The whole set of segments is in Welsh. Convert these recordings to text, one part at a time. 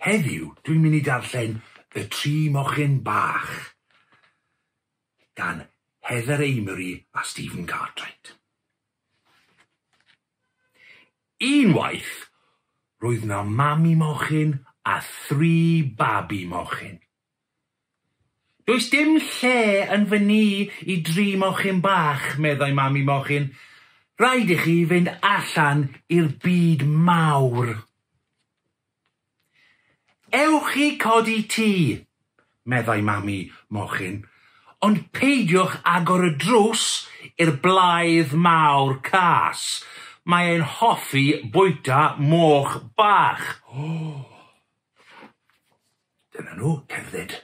Heddiw dwi'n mynd i darllen Y Tri Mochyn Bach gan Heather Amery a Stephen Cartwright. Unwaith, roedd 'na mami mochyn a thri babi mochyn. Does dim lle yn fy nŷ i dri mochyn bach, meddai mam i mochyn. Rhaid i chi fynd allan i'r byd mawr. Ewch i codi tŷ, meddai mam i mochyn, ond peidiwch agor y drws i'r blaidd mawr cas, mae e'n hoffi bwyta moch bach. Dyna nhw, cerdded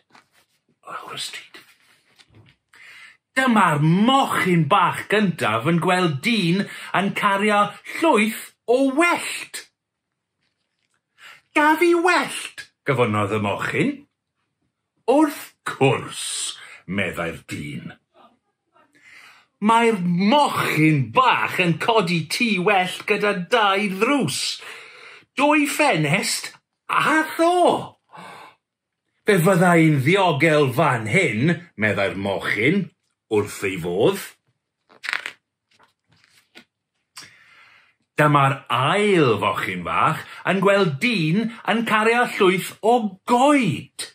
lawr y stryd. Dyma'r mochyn bach gyntaf yn gweld dyn yn cario llwyth o wellt. Gaf i wellt, gofynnodd y mochyn. Wrth cwrs, meddai'r dyn. Mae'r mochyn bach yn codi tŷ wellt gyda dau ddrws, dwy ffenest Ach o! Fe fydda i'n ddiogel fan hyn, meddai'r mochyn wrth ei fodd. Dyma'r ail fochyn fach yn gweld dyn yn cario llwyth o goed.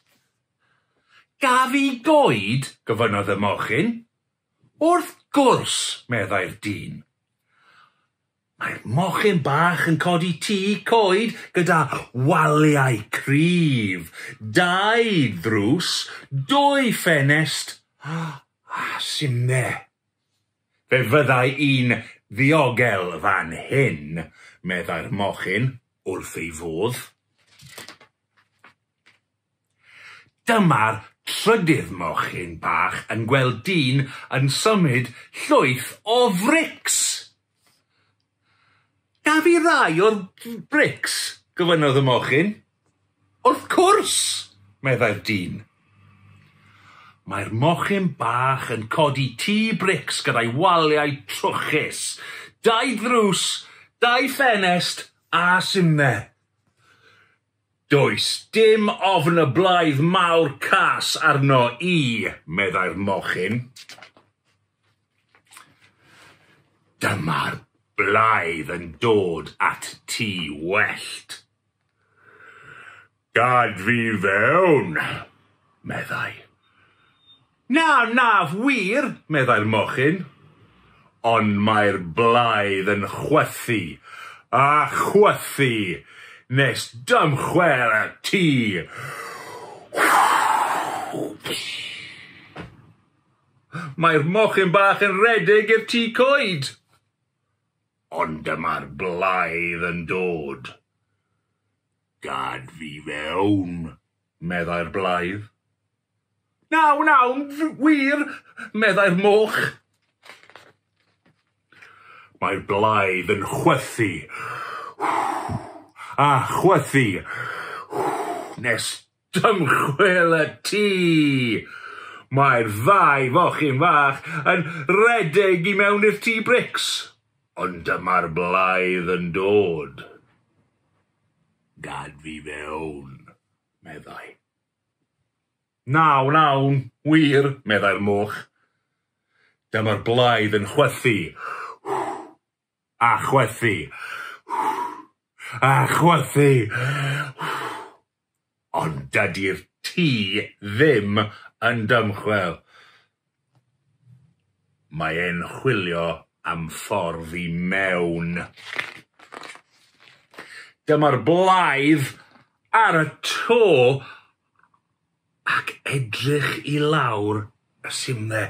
Gaf i goed? gofynnodd y mochyn. Wrth gwrs, meddai'r dyn. Mae'r mochyn bach yn codi tŷ coed gyda waliau cryf, dau ddrws, dwy ffenest a simne. Fe fyddai i'n ddiogel fan hyn, meddai'r mochyn wrth ei fodd. Dyma'r trydydd mochyn bach yn gweld dyn yn symud llwyth o frics! Da fi rai o'r brics, gofynnodd y mochyn. Wrth cwrs, meddai'r dyn. Mae'r mochyn bach yn codi tŷ brics gyda'i waliau trwchus, dau ddrws, dau ffenest a simne. Does dim ofn y blaidd mawr cas arno i, meddai'r mochyn. Dyma'r blaidd yn dod at ti wellt. Gad fi fewn, meddai. Na, na, wir, meddai'r mochyn, ond mae'r blaidd yn chwythu a chwythu nes dymchwel y tŷ. Mae'r mochyn bach yn rhedeg i'r tŷ coed, ond dyma'r blaidd yn dod. Gad fi fewn, meddai'r blaidd. Na wnawn, wir, meddai'r moch. Mae'r blaidd yn chwythu a chwythu nes dymchwel y tŷ. Mae'r ddau fochyn fach yn rhedeg i mewn i'r tŷ brics, ond dyma'r blaidd yn dod. Gad fi fewn, meddai. Na, wnawn, wir, meddai'r moch. Dyma'r blaidd yn chwythu. A chwythu. A chwythu. Ond dydy'r tŷ ddim yn dymchwel. Mae e'n chwilio am ffordd i mewn. Dyma'r blaidd ar y to ac edrych i lawr y simne.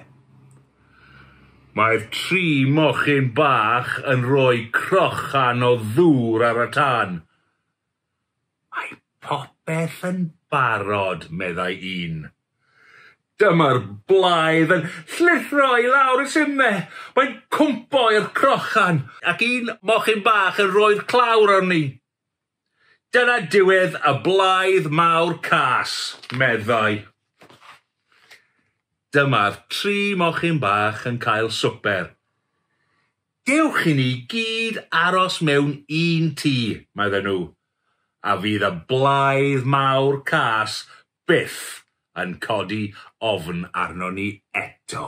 Mae'r tri mochyn bach yn rhoi crochan o ddŵr ar y tân. Mae popeth yn barod, meddai un. Dyma'r blaidd yn llithro i lawr y simne, mae'n cwmpo i'r crochan, ac un mochyn bach yn rhoi'r clawr arni. Dyna diwedd y blaidd mawr cas, meddai. Dyma'r tri mochyn bach yn cael swper. Dewch i ni gyd aros mewn un tŷ, medden nhw, a fydd y blaidd mawr cas byth yn codi ofn arnon ni eto.